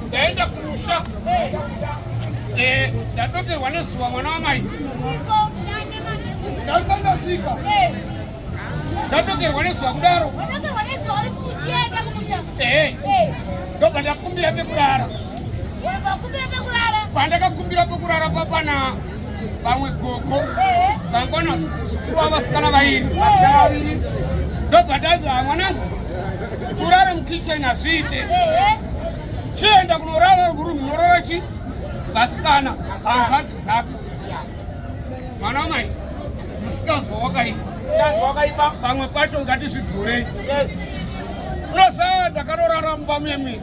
ndaenda kumusha eh, ndadokerwa nezuva mwana wamai ndasandasvika ndadokerwa nezuva kudaro eh, eh. ndobva ndakumbira pekurara pandakakumbira pekurara papana vamwe gogo vangwana vasukuva vasikana vairi ndobvadazva mwanangu kurara mukitchen hazviite chienda kunorara rurumu norara chi vasikana hangazi dzako mwana wamai musikanzwa wakaipa pamwe pacho ngatizvidzurei unosaya ndakarorara mumba muyemwini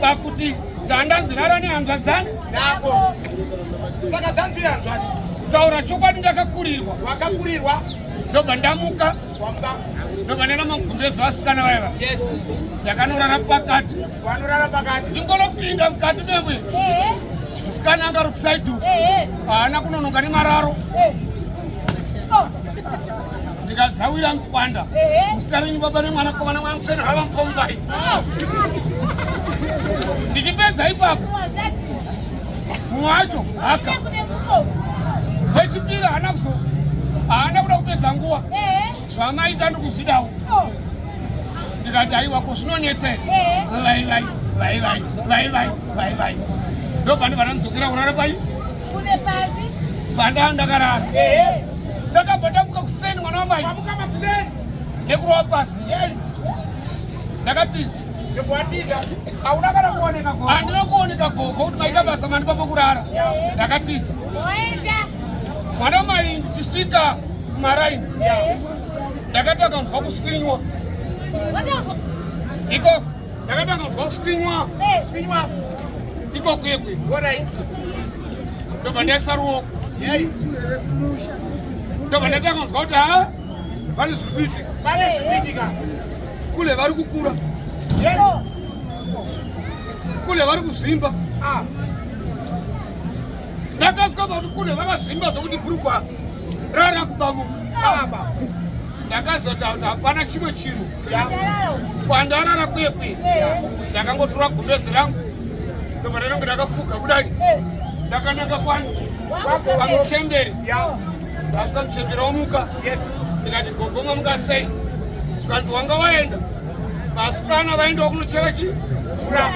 pakuti ganda nzirara nehanzva dzani dzako saka dzanziri hanzvati taura chokwadi ndakakurirwa wakakurirwa ndobva ndamuka ndobva ndaenda magumbezi vasikana vaiva ndakanorara pakati vanorara pakati ndingonopinda mukati memwe musikana angari kusaidu haana kunonoka nemararo ndikadzawira mtswanda muzita renyu baba nemwana kovana mwana museni hava mupombai ndichipedza ipapo mumwe wacho haka wechipiri haana kuzo haana kuda kupedza nguva zvamaita ndikuzvidawo ndikati aiwa ko zvinonetsei vaivai vaivai vaivai vaivai ndobva ndibva ndamuzokera kurara pai Kune pasi. Panda ndakarara. Eh. Ndakabva ndamuka kuseni mwana wamai. Ndamuka kuseni. Nekurova pasi. Yei. Ndakatiza. Ndikuatiza. Hauna kana kuoneka gogo. Handina kuoneka gogo kuti maita basa mani papo kurara. Ndakatiza. Oenda. Mwana wamai ndichisvika kumaraini. Ndakati akanzwa kuswinywa. Iko. Ndakatanga kuzwa kuswinywa. Eh. Swinywa. Iko kwekwe. Alright. Ndobva ndaisa ruoko. Yai. Ndobva ndatanga kuzwa kuti ha vane zviri kuitika. Vane zviri kuitika. Kule vari kukura. Yai. Oh. Kule vari kuzvimba. Ah. Ndakasvika pakuti kule vakazvimba zvokuti bhurukwa rara kubamuka. Ah. Ndakazoti hapana chimwe chinhu. kwandarara kwekwe ndakangotora gumbezi rangu ndobva ndainonge ndakafuga kudai ndakananga kwani kwamuchemberi ndasvika muchemberi omuka ndikati gogoma muka sei zvikanzi wanga waenda vasikana vaendawo kunochera chi fura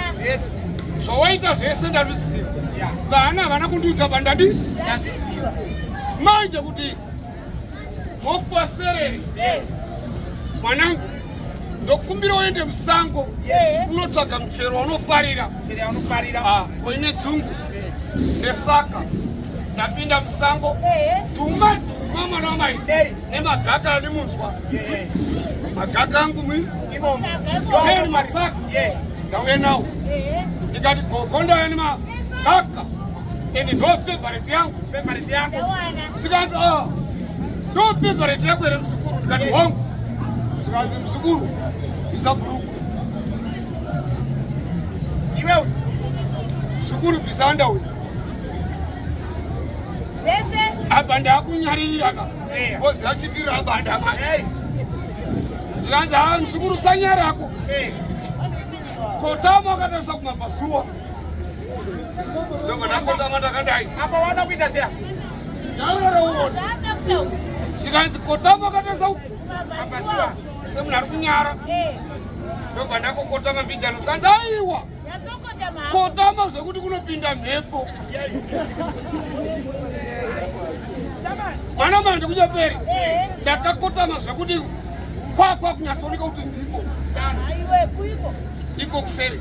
zvawaita zvese ndazviziva vana havana kundiudza pandadi ndazviziva manje kuti Hofu wasereri. Yes. Mwanangu, ndokumbira uende musango unotsvaga yeah. muchero waunofarira. Muchero waunofarira. Ah, koine dzungu. Yeah. Nesaka ndapinda musango. Yeah. Tuma tuma mwana wamai. Yeah. Nemagaka andimunzwa. Yeah. Magaka angu mwi. Imomo. Teni masaka. Yes. Ndauye nawo. Yeah. Ndikati gogo ndauya nemagaka. And no favorite yangu. Favorite yangu. Sikazi oh. No favorite yangu ere msukuru ndikati yes. hongu. Sikazi msukuru visa bhuruku. Iwe msukuru visa underwear. Sese. Apa ndakunyaririra ka. Eh. Bozi achitira apa ndamai. Hey. Sikazi ah msukuru sanyarako. Hey. Eh. Kotama akatarisa kumabva zuwa. zvikanzi kotama akatarisa uku semunhu ari kunyara ndobva ndakokotama mbijano zvikanzi aiwa kotama zvekuti kunopinda mhepo mwana manje kunyaperi ndakakotama zvekuti kwakwa kunyatsooneka kuti ndiko iko kuseri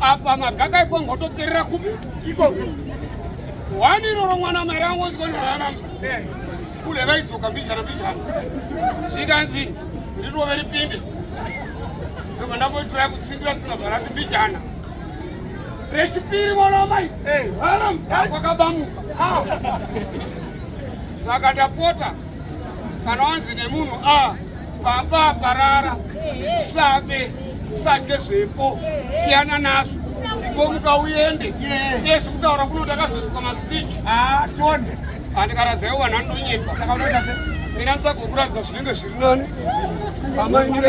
apa magaka ifo ngotoperera kupi iko wani iroro mwana mairi angonzwa ndararama eh. kule vaidzoka mbijana mbijana zvikanzi rirove ripinde ndobva ndamboitira kutsindira tsina zvarati mbijana rechipiri mwana wamai eh. haram kwakabamuka ah. saka ndapota kana wanzi nemunhu a ah, baba parara sabe sadye zvepo siyana nazvo ngomuka uende yes kutaura kuno ndakazosuka masitiki ah, tonde andikaradzayo vanhu anonyepa saka unoita se mina nditsvaga kuratidza zvinenge zviri nani amai mune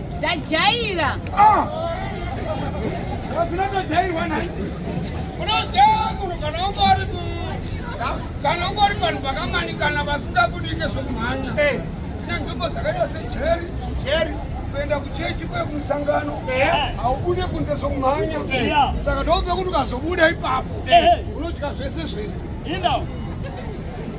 Ndajaira. Ah. Ndinotojairwa nhai. Unoziva munhu kana ungori kana ungori vanhu vakamanikana vasingabudike zvokumhanya. Eh. Tine nzvimbo dzakaita sejeri. Jeri. kuenda kuchechi kwe kumusangano haubude kunze sokumhanya saka ndoope kuti ukazobuda ipapo unodya zvese zvese